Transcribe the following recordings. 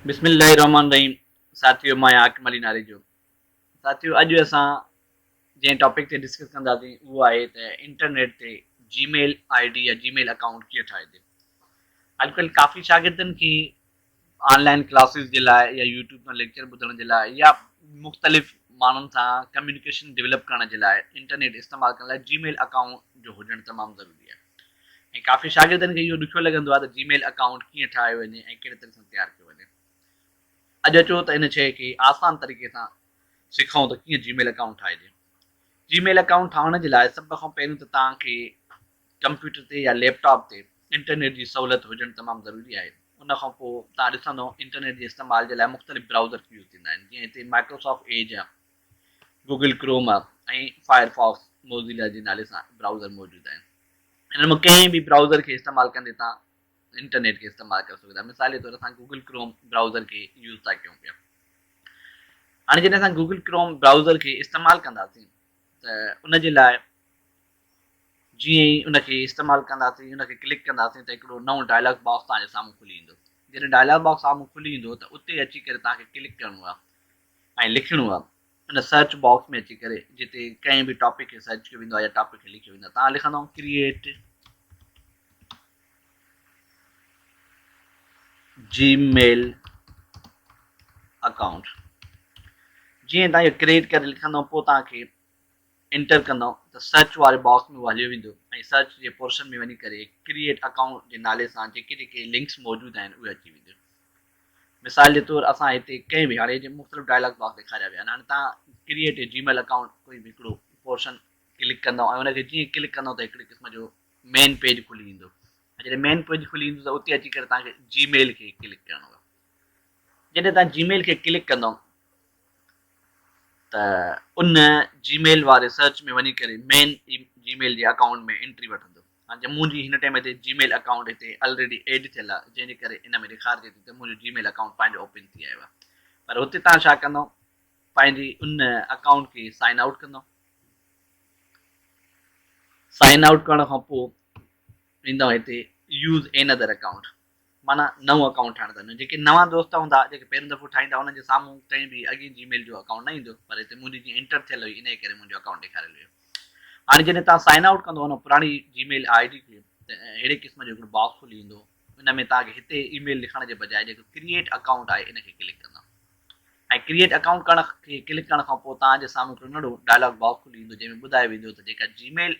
بسم الله الرحمٰن الرحيم ساٿيو مان آهيان حاڪم علي ناريجو ساٿيو اڄ اسان جنهن ٽاپڪ تي ڊسڪس ڪنداسين اهو آهي ته انٽرنيٽ تي جي ميل آئي ڊي يا جي ميل اڪائونٽ ڪيئن ٺاهجي اڄڪلهه ڪافي شاگردن کي آن لائن ڪلاسز جي لاء يا يوٽيوب تان ليڪچر ٻڌڻ جي لاء يا مختلف ماڻهن سان ڪميونيڪيشن ڊيولپ ڪرڻ جي لاء انٽرنيٽ استعمال ڪرڻ لاء جي ميل اڪائونٽ جو هجڻ تمام ضروري آهي ۽ ڪافي شاگردن کي اهو ڏکيو لڳندو آهي ته جي ميل اڪائونٽ ڪيئن ٺاهيو وڃي ۽ ڪهڙي طريقي سان تيار ڪيو وڃي. اڄ اچو ته ان شيء کي آسان طريقي سان سکون ته ڪيئن جي ميل اڪائونٽ ٺاهجي. جي ميل اڪائونٽ ٺاهڻ جي لاء سڀ کان پهريون ته توهان کي ڪمپيوٽر تي يا ليپ ٽاپ تي انٽرنيٽ جي سهولت هجڻ تمام ضروري آهي. ان کان پوء توهان ڏسندو انٽرنيٽ جي استعمال جي لاء مختلف برائوزر ڪي يوز ٿيندا آهن جيئن هتي مائڪروسافٽ ايج يا Google Chrome ۽ Firefox Mozilla جي نالي سان برائوزر موجود آهن. انهن مان ڪنهن به برائوزر کي استعمال ڪندي توهان انٽرنيٽ کي استعمال ڪري سگهو ٿا. مثال جي طور اسان گوگل ڪروم برائوزر کي يوز ٿا ڪيون پيا. هاڻي جڏهن اسان گوگل ڪروم برائوزر کي استعمال ڪنداسين ته ان جي لاء جيئن ئي ان کي استعمال ڪنداسين ان کي ڪلڪ ڪنداسين ته هڪڙو نئون ڊائلاگ باڪس توهان جي سامهون کلي ايندو. جڏهن ڊائلاگ باڪس سامهون کلي ايندو ته اتي اچي ڪري توهان کي ڪلڪ ڪرڻو آهي. ۽ لکڻو آ ان سرچ باڪس ۾ اچي ڪري جتي ڪنهن به ٽاپڪ کي سرچ ڪيو ويندو آ يا ٽاپڪ کي لکيو ويندو آ تان لکندؤ ڪريئيٽ جي ميل اڪائونٽ جيئن تان اهو ڪريئيٽ ڪري لکندؤ پوء تان کي انٽر ڪندو ته سرچ واري باڪس ۾ اهو هليو ويندو ۽ سرچ جي پورشن ۾ وڃي ڪري ڪريئيٽ اڪائونٽ جي نالي سان جيڪي جيڪي لنڪس موجود آهن اهي اچي وينديون. مثال جي طور اسان هتي ڪئين به هاڻي جي مختلف ڊائلاگ باڪس ڏيکاريا ويا آهن هاڻي تان ڪريئيٽ اي جيميل اڪائونٽ ڪوئي به هڪڙو پورشن ڪلڪ ڪندو ۽ ان کي جيئن ڪلڪ ڪندو ته هڪڙي قسم جو مين پيج کلي ايندو ۽ جڏهن مين پيج کلي ايندو ته اتي اچي ڪري تان کي جيميل کي ڪلڪ ڪرڻو جڏهن تان جيميل کي ڪلڪ ڪندو ته ان جي ميل واري سرچ ۾ وڃي ڪري مين جي ميل جي اڪائونٽ ۾ انٽري وٺندو ۽ منهنجي هن ٽائيم تي جي ميل اڪائونٽ هتي الريڊي ايڊ ٿيل آهي جنهن جي ڪري ان ۾ ڏيکارجي ٿي ته منهنجو جي ميل اڪائونٽ پنهنجو اوپن ٿي آيو آهي پر هتي تان ڇا ڪندو پنهنجي ان اڪائونٽ کي سائن آئوٽ ڪندو سائن آئوٽ ڪرڻ کان پوء ويندو هتي يوز اين ادر اڪائونٽ معنيٰ نئون اڪائونٽ ٺاهڻ ته نه، جيڪي نوان دوست هوندا، جيڪي پهريون دفعو ٺاهيندا، انهن جي سامهون ڪنهن به اڳئين جي ميل جو اڪائونٽ نه ايندو، پر هتي منهنجي جيئن انٽر ٿيل هئي، انهيء ڪري منهنجو اڪائونٽ ڏيکاريل هيو. هاڻي جڏهن توهان سائن آئوٽ ڪندو ان پراڻي جي ميل آء ڊي کي، ته اهڙي قسم جو هڪڙو باڪس کلي ايندو، ان ۾ توهان کي هتي اي ميل لکڻ جي بجاء جيڪو ڪريئيٽ اڪائونٽ آهي، ان کي ڪلڪ ڪندا ۽ ڪريئيٽ اڪائونٽ ڪرڻ کي ڪلڪ ڪرڻ کان پوء توهان جي سامهون هڪڙو ننڍو ڊائلاگ باڪس کلي ايندو، جنهن ۾ ٻڌايو ويندو ته جيڪا جي ميل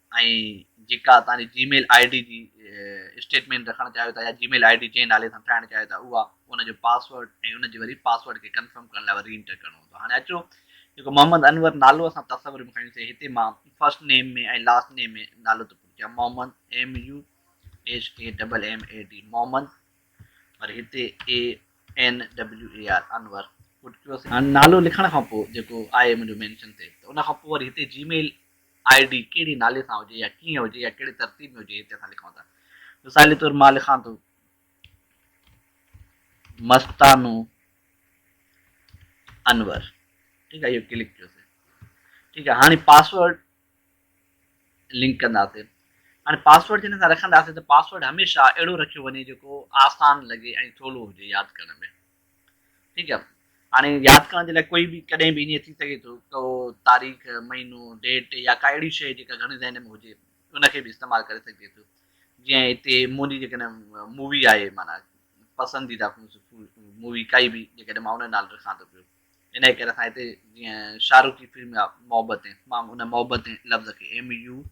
۽ جيڪا توهان جي جي ميل آئي ڊي جي اسٽيٽمينٽ رکڻ چاهيو ٿا يا جي ميل آئي ڊي جنهن نالي سان ٺاهڻ چاهيو ٿا اها ان جو پاسورڊ ۽ ان جي وري پاسورڊ کي ڪنفرم ڪرڻ لاء ري انٽر ڪرڻو هوندو هاڻي اچو جيڪو محمد انور نالو اسان تصور ۾ کڻيون سي هتي مان فرسٽ نيم ۾ ۽ لاسٽ نيم ۾ نالو ته پورو ڪيا Muhammad M U H A double M A D Muhammad وري هتي A N W A R Anwar پٽ ڪيو سي هاڻي نالو لکڻ کان پوء جيڪو آهي منهنجو مينشن تي ته ان کان پوء وري هتي جي ميل آء ڊي ڪهڙي نالي سان هجي يا ڪيئن هجي يا ڪهڙي ترتيب ۾ هجي هتي اسان لکون ٿا مثال طور مان لکان ٿو مستانو انور ٺيڪ آهي اهو ڪلڪ ڪيو ٺيڪ آهي هاڻي پاسورڊ لنڪ ڪنداسين هاڻي پاسورڊ جڏهن اسان رکنداسين ته پاسورڊ هميشه اهڙو رکيو وڃي جيڪو آسان لڳي ۽ سولو هجي ياد ڪرڻ ۾ ٺيڪ آهي هاڻي ياد ڪرڻ جي لاء ڪوئي به ڪڏهن به ائين ٿي سگهي ٿو ڪو تاريخ مهينو ڊيٽ يا ڪا اهڙي شيء جيڪا گهڻي ذهن ۾ هجي ان کي به استعمال ڪري سگهجي ٿو جيئن هتي منهنجي جيڪڏهن مووي آهي معنيٰ پسنديده مووي ڪائي به جيڪڏهن مان ان جو نالو رکان ٿو پيو انهي ڪري اسان هتي جيئن شاهه رخ جي فلم محبتين مان ان محبتين لفظ کي M U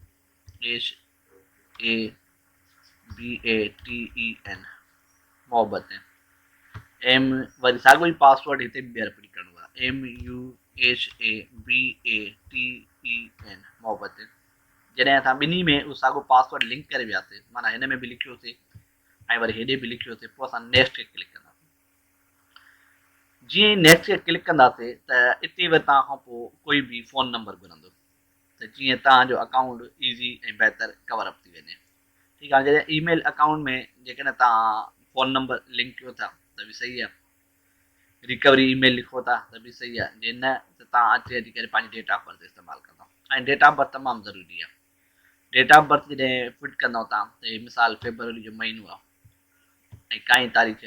H A B A T A N Mohabbatein M وري ساڳو ئي پاسورڊ هتي به ٻيهر رپيٽ ڪرڻو آهي M U H A B A T A N Mohabbatein جڏهن اسان ٻنهي ۾ اهو ساڳو پاسورڊ لنڪ ڪري وياسي مانا هن ۾ به لکيوسي ۽ وري هيڏي به لکيوسي پوء اسان نيڪسٽ کي ڪلڪ ڪنداسي جيئن نيڪسٽ کي ڪلڪ ڪنداسي ته اتي ورتان کان پوء ڪوئي به فون نمبر گهرندو ته جيئن توهان جو اڪائونٽ ايزي ۽ بهتر ڪور اپ ٿي وڃي ٺيڪ هاڻي جڏهن اي ميل اڪائونٽ ۾ جيڪڏهن توهان فون نمبر لنڪ ڪيو ٿا ته به صحيح آهي ريڪوري اي ميل لکو ٿا ته به صحيح آهي جي نه ته توهان اچي اچي ڪري پنهنجي ڊيٽ آف برٿ استعمال ڪندا ۽ ڊيٽ آف برٿ تمام ضروري آهي ڊيٽ آف برٿ جڏهن فٽ ڪندو تان ته هي مثال فيبروري جو مهينو آهي ۽ ڪائين تاريخ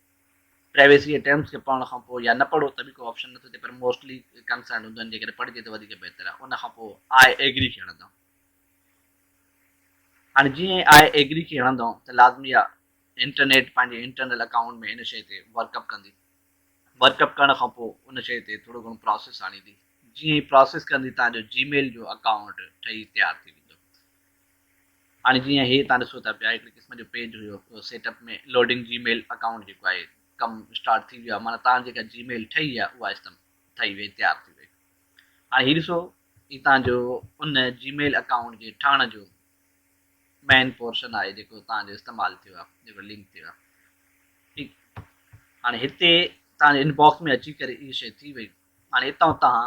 پرائيويسي جي ٽرمز کي پڙهڻ کان پوء يا نه پڙهو ته به ڪو آپشن نٿو ٿئي پر موسٽلي ڪنسرنڊ هوندو آهن جيڪڏهن پڙهجي ته وڌيڪ بهتر آهي ان کان پوء آء ايگري کي هڻندؤ. هاڻي جيئن ئي آء ايگري کي هڻندؤ ته لازمي آهي انٽرنيٽ پنهنجي انٽرنل اڪائونٽ ۾ ان شئي تي ورڪ اپ ڪندي ورڪ اپ ڪرڻ کان پوء ان شئي تي ٿورو گهڻو پراسيس آڻيندي جيئن ئي پراسيس ڪندي تهان جو جي ميل جو اڪائونٽ ٺهي تيار ٿي ويندو هاڻي جيئن هي تان ڏسو ٿا پيا هڪڙي قسم جو پيج هيو اهو set up ۾ loading Gmail account جيڪو آهي ڪم اسٽارٽ ٿي ويو آهي معنيٰ تان جيڪا جي ميل ٺهي آهي اها استم ٺهي وئي تيار ٿي وئي هاڻي هي ڏسو هي تان جو ان جي ميل اڪائونٽ جي ٺهڻ جو مين پورشن آهي جيڪو تان جو استعمال ٿيو آهي جيڪو لنڪ ٿيو آهي ٺيڪ هاڻي هتي تان جي ان باڪس ۾ اچي ڪري هي شي ٿي وئي هاڻي اتان تان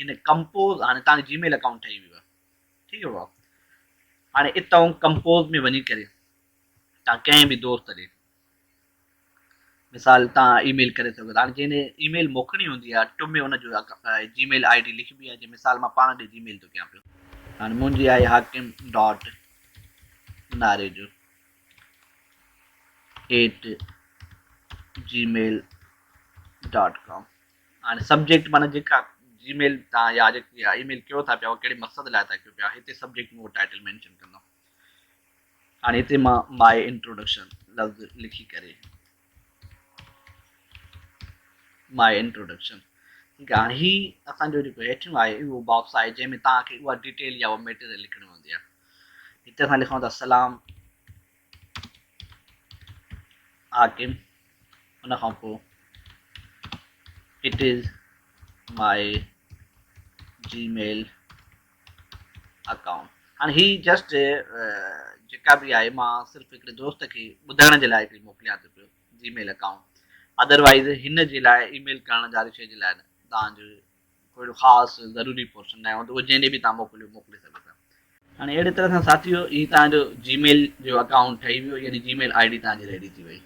هن ڪمپوز هاڻي تان جي ميل اڪائونٽ ٺهي ويو آهي ٺيڪ آ بابا هاڻي اتئون ڪمپوز ۾ وڃي ڪري تان ڪنهن به دوست ڏي مثال تان اي ميل ڪري سگهو ٿا هاڻي جنهن ڏي اي ميل موڪلڻي هوندي آ ٽم ۾ ان جو جي ميل آئي ڊي لکبي آ جي مثال مان پاڻ ڏي جي ميل ٿو ڪيان پيو هاڻي منهنجي آهي Hakim dot Narejo at Gmail dot com هاڻي سبجيڪٽ معنيٰ جيڪا جي ميل تان يا جيڪي اها اي ميل ڪيو ٿا پيا اهو ڪهڙي مقصد لاء ٿا ڪيو پيا هتي سبجيڪٽ ۾ اهو ٽائيٽل مينشن ڪندم هاڻي هتي مان ماء انٽروڊڪشن لفظ لکي ڪري ماء انٽروڊڪشن ٺيڪ آهي هاڻي هي اسان جو جيڪو هيٺيون آهي اهو باڪس آهي جنهن ۾ توهان کي اها ڊيٽيل يا اها ميٽيريل لکڻي هوندي آهي هتي اسان لکون ٿا سلام حاڪم، ان کان پوء it is my Gmail account هاڻي هي جسٽ جيڪا به آهي مان صرف هڪڙي دوست کي ٻڌائڻ جي لاء هڪڙي موڪليان ٿو پيو جي ميل اڪائونٽ ادروائز هن جي لاء اي ميل ڪرڻ جا رشي جي لاء نه تان جو ڪو اهڙو خاص ضروري پورشن ناهي هوندو اهو جنهن ڏي به توهان موڪليو موڪلي سگهو ٿا. هاڻي اهڙي طرح سان ساٿيو هي توهان جو جي ميل جو اڪائونٽ ٺهي ويو يعني جي ميل آئي ڊي توهان جي ريڊي ٿي وئي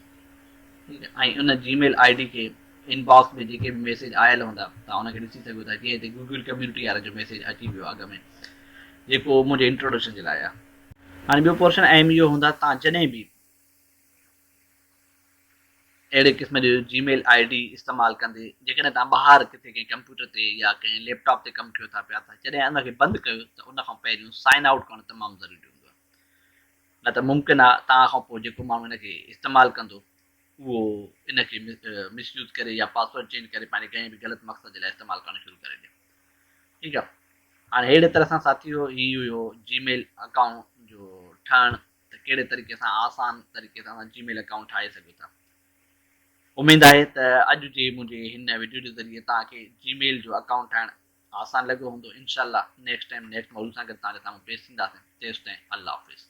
ٺيڪ آهي ۽ ان جي ميل آئي ڊي کي ان باڪس ۾ جيڪي به ميسيج آيل هوندا توهان ان کي ڏسي سگهو ٿا جيئن هتي گوگل ڪميونٽي وارن جو ميسيج اچي ويو اڳ ۾ جيڪو منهنجي انٽروڊڪشن جي لاء آهي هاڻي ٻيو پورشن اهم اهو هوندا توهان جڏهن به اهڙي قسم جو جي ميل آء ڊي استعمال ڪندي جيڪڏهن توهان ٻاهر ڪٿي ڪنهن ڪمپيوٽر تي يا ڪنهن ليپ ٽاپ تي ڪم ڪيو ٿا پيا ته جڏهن ان کي بند ڪيو ته ان کان پهريون سائن آئوٽ ڪرڻ تمام ضروري هوندو آهي نه ته ممڪن آهي توهان کان پوء جيڪو ماڻهو ان کي استعمال ڪندو اهو ان کي مس يوز ڪري يا پاسورڊ چينج ڪري پنهنجي ڪنهن به غلط مقصد جي لاء استعمال ڪرڻ شروع ڪري ڏي ٺيڪ آهي هاڻي اهڙي طرح سان ساٿي هو هي هيو جي ميل اڪائونٽ جو ٺهڻ ته ڪهڙي طريقي سان آسان طريقي سان اسان جي ميل اڪائونٽ ٺاهي سگهون ٿا. اميد آهي ته اڄ جي منهنجي هن وڊيو جي ذريعي توهان کي جي ميل جو اڪائونٽ ٺاهڻ آسان لڳو هوندو انشاء الله نيڪسٽ ٽائيم نيڪسٽ موضوع سان گڏ توهان جي سامهون پيش ٿينداسين تيستائين الله حافظ.